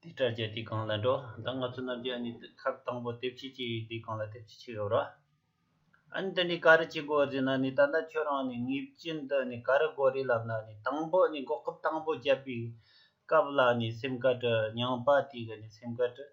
དེ་ལྟར་བྱས་དེ་གང་ལ་འགྲོ། ད་ང་ཚོ་རྣམས་ཀྱིས་ནི་ཁབ་དང་པོ་དེབ་ཕྱི་ཅི་ཡོད་དེ་གང་ལ་དེབ་ཕྱི་ཅི་ཡོད་རོ། ཨཱ་ནི་དེ་ནི་ག་རེ་ཅི་དགོས་ཟེར་ན་ནི་ད་ལྟ་ཁྱོད་རང་ནི་ངེད་ཅན་དུ་ནི་ག་རེ་དགོས་རེད་ལབ་ན་ནི་དང་པོ་ནི་འགོག་ཁབ་དང་པོ་བརྒྱབ་པའི་སྐབས་ལ་ནི་སེམས་དཀར་དྲི། ཉང་པ་དེ་གི་ནི་སེམས་དཀར་དྲི།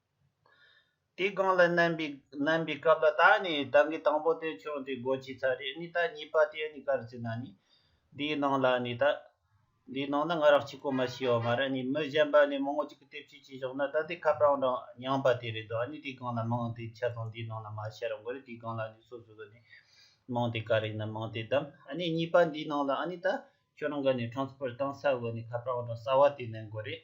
དེའི་སྒང་ལ་བསྣན་པའི་སྐབས་ལ་ད་ནི་བདག་གིས་དང་པོ་དེ་ཆུང་དེ་སྒོ་ཕྱེས་ཚར་རེད་ནི་ད་གཉིས་པ་དེ་ནི་གར་བྱེད་ན་ནི་དེའི་ནང་ལ་ནི་ད་དེའི་ནང་ན་ང་རང་གཅིག་པོ་མ་ཤི་བ་མ་རེད་ནི་མི་གཞན་པ་ནི་མང་བོ་ཅིག་གི་ལྟེབ་ཆུས་བྱས་ཤོག་ན་ད་དེ་ཁ་པར་འང་འདྲ་མྱངས་པ་དེ་རེད་དོ་ཨ་ནི་དེའི་སྒང་ལ་མིང་དེ་ཆ་ཚང་དེའི་ནང་ན་མ་བཤད་རོགས་མགོ་རེད་དེའི་སྒང་ལ་ནི་སོ་སོ་གི་ནི་མིང་དེ་ག་རེ་ཡིན་ན་མིང་དེ་བདམས་ཨ་ནི་གཉིས་པ་འདིའི་ནང་ལ་ཨ་ནི་ད་ཁྱོད་རང་གི་ནི Transfer གཏང་ས་དགོས་ནི་ཁ་པར་འང་འདྲ་གསར་བ་དེ་བསྣན་དགོས་རེད།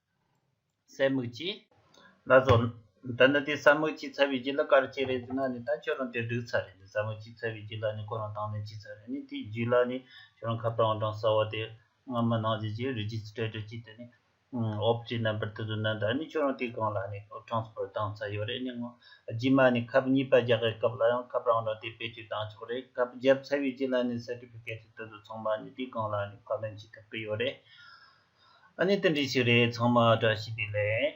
གསལ་མིག་ཅི། ལ་སོགས། ད་ནི་དེ་གསལ་མིག་ཅི་ཚ་བའི་རྒྱུ་ལ་ག་རེ་བྱེད་རེ་ཟེར་ན་ནི་ད་ཁྱོད་རང་དེར་འགྲིག་ཚར་རེ་ནི་གསལ་མིག་ཅི་ཚ་བའི་རྒྱུ་ལ་ནི་ཁོ་རང་དང་ནི་ཅི་ཚར་རེ་ནི་དེའི་རྒྱུ་ལ་ནི་ཁྱོད་རང་ཁ་བཏང་བ་དང་གསལ་བ་དེ་སྔ་མ་ནང་བཞིན་གྱི་རིག་བྱེད་ཚིག་ཕྲད་དྲུག་ཅིག་དེ་ནི་འོབས་ཀྱི་རྣམ་པར་དུ་བཟོས་ན་ད་ནི་ཁྱོད་རང་དེའི་སྒང་ལ་ནི་གྲངས་སུ་བཏང་ཚར་ཡོད་རེ་ནི་ངོ། རྗེས་མ་ནི་ཁབ་གཉིས་པ་རྒྱག་པའི་སྐབས་ལ་ཡང་ཁབ་རང་རང་དེ་དཔེ་བཅུ་བཏང་ཆོག་རེ་ཁབ་བརྒྱབ་ཚར་བའི་རྒྱུ་ལ་ནི་གསལ་འགྲིབ་ཀྱི་སྐད་ཆ་དེ་ཚོ་ཚང་མ་ནི་དེའི་སྒང་ལ་ནི་བཀའ་ལན་བྱེད་ཐུབ་ཀྱི་ཡོད་རེ། ཨ་ནི་རྟེན་འབྲེལ་ཞིག་རེད་ཚང་མ་བཀྲ་ཤིས་བདེ་ལེགས།